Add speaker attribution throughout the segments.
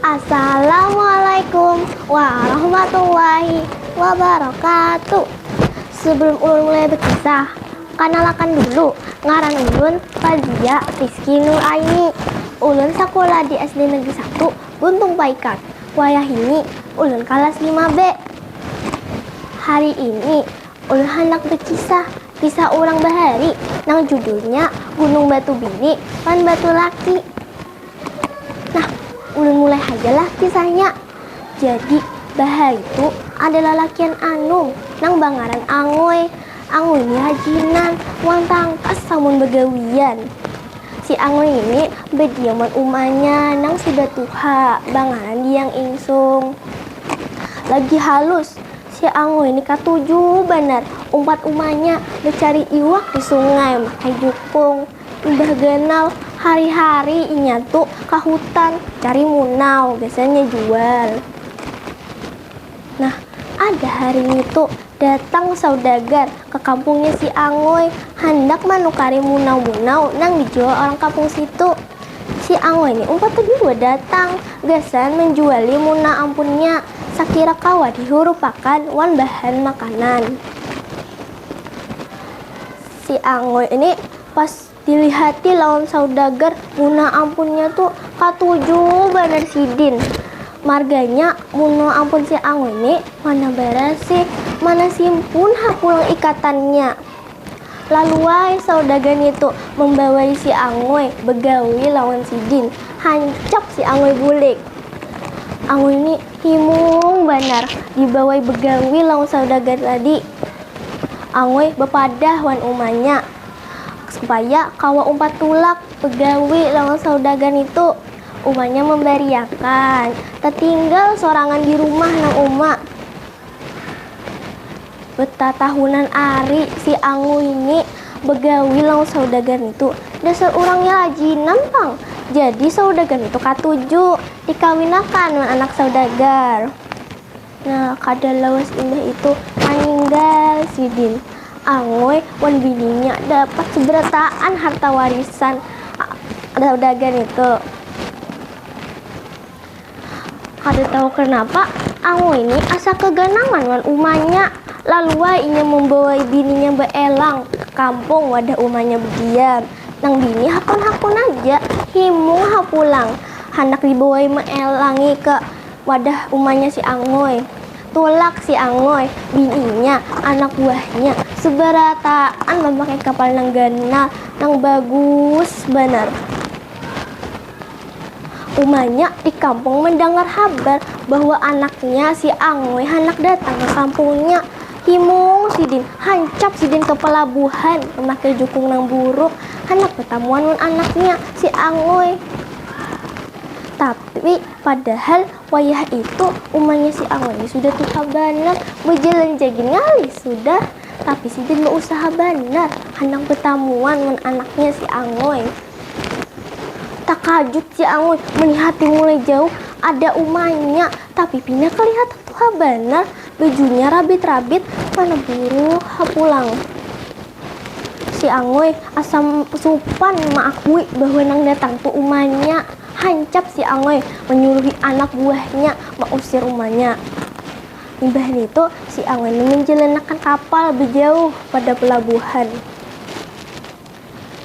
Speaker 1: Assalamualaikum warahmatullahi wabarakatuh Sebelum ulun mulai berkisah Kanalakan dulu, ngaran ulun Fazia Rizky Nur Aini Ulun sakulah di SD Negeri 1 Buntung Paikan Wayahini ulun kalas 5B Hari ini ulun handak berkisah kisah urang bahari nang judulnya Gunung Batu Bini wan Batu Laki Nah, ulun mulai haja lah kisahnya. Jadi, bahari tu ada lalakian anum nang bangaran Angoy. Angoy ni rajinan wan tangkas samun bagawian. Si Angoy ini badiam wan umanya nang sudah tuha bangaran Diyang Insung. Lagi halus, si Angoy ni katuju banar umpat umanya bacari iwak di sungai makai jukung. Imbah ganal, hari-hari inya tu ka hutan cari munau, biasanya jual. Nah, ada hari ngitu datang saudagar ka kampungnya si Angoy handak manukari munau-munau nang dijual orang kampung situ. Si Angoy ni umpat tadi jua datang gasan manjuali munau ampunnya sakira kawa dihurupakan wan bahan makanan. Si Angoy ini pas dilihati lawan saudagar, munah ampunnya tu katuju banar sidin. Marganya munah ampun si Angoy ni mana barasi, mana simpun ha pulang ikatannya. Laluai saudagar nitu mambawai si Angoy bagawi lawan sidin, hancap si Angoy bulik. Angoy ni himung banar dibawai bagawi lawan saudagar tadi. Angui bapadah wan umanya supaya kawa umpat tulak bagawi lawan saudagar nitu. Umanya mambariakan tatinggal sorangan di rumah nang uma. Batatahunan ari si Angui ni bagawi lawan saudagar nitu. Dasar urangnya lajinan pang. Jadi saudagar nitu katuju dikawinakan wan anak saudagar. Nah, kada lawas imbah itu maninggal sidin Angoy wan bininya dapat seberataan harta warisan saudagar nitu. Kada tahu kanapa, Angoy ni asa kaganangan wan umanya. Lalu ai inya mambawai bininya baelang ka kampung wadah umanya badiam. Nang bini hakun-hakun aja, himung ha pulang handak dibawai maelangi ka. Wadah umanya si Angoy. Tulak si Angoy, bininya, anak buahnya, sebarataan mamakai kapal nang ganal, nang bagus banar. Umanya di kampung mandangar habar bahwa anaknya si Angoy handak datang ka kampungnya. Himung sidin, hancap sidin ka palabuhan mamakai jukung nang buruk handak batamuan wan anaknya si Angoy. Tapi. Padahal wayah itu umanya si Angui ni sudah tuha banar, bajalan ja gin ngalih sudah. Tapi sidin bausaha banar handak batamuan wan anaknya si Angui. Takajut si Angui malihati mulai jauh ada umanya, tapi pina kalihatan tuha banar, bajunya rabit-rabit mana buruh ha pulang. Si Angui asa supan maakui bahwa nang datang tu umanya. Hancap si Angoy manyuluhi anak buahnya mausir rumahnya. Imbah nitu, si Angoy ni manjalanakan kapal bajauh pada palabuhan.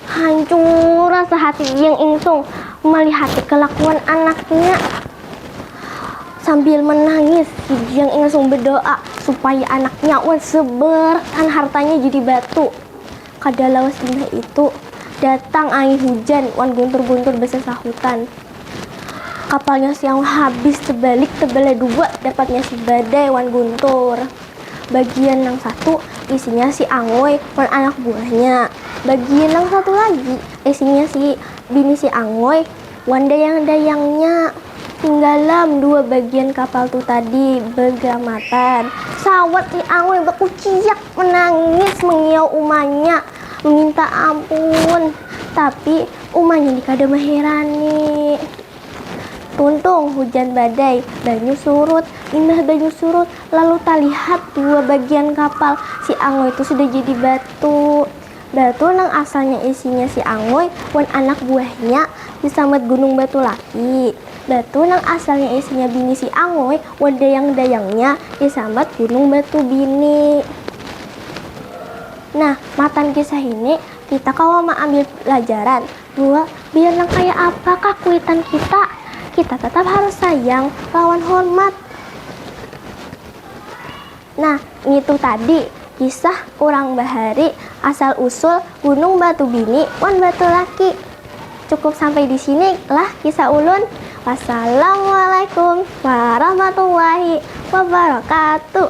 Speaker 1: Hancur asa hati Iyang Ingsung malihati kalakuan anaknya. Sambil manangis, Iyang Ingsung badoa supaya anaknya wan sabarakan hartanya jadi batu. Kada lawas imbah itu, datang angin hujan wan guntur-guntur basasahutan. Kapalnya si Aung habis tebalik tebelah dua dapatnya si Badai wan Guntur. Bagian nang satu isinya si Angoy wan anak buahnya, bagian nang satu lagi isinya si bini si Angoy Wan dayang-dayangnya. Tinggalam dua bagian kapal tu tadi begamatan. Sawat si Angoy bakuciak menangis mengiau umanya meminta ampun. Tapi umanya ni kada maherani. Tuntung hujan badai, banyu surut. Imbah banyu surut lalu talihat dua bagian kapal si Angoy tu sudah jadi batu. Batu nang asalnya isinya si Anguy wan anak buahnya disambat Gunung Batu Laki. Batu nang asalnya isinya bini si Anguy wan dayang-dayangnya disambat Gunung Batu Bini. Nah, matan kisah ini kita kawa maambil pelajaran bahwa biar nang kaya apa kah kuitan kita, kita tatap harus sayang lawan hormat. Nah, ngitu tadi kisah urang bahari asal usul gunung batu bini wan batu laki. Cukup sampai di sini lah kisah ulun. Wassalamualaikum warahmatullahi wabarakatuh.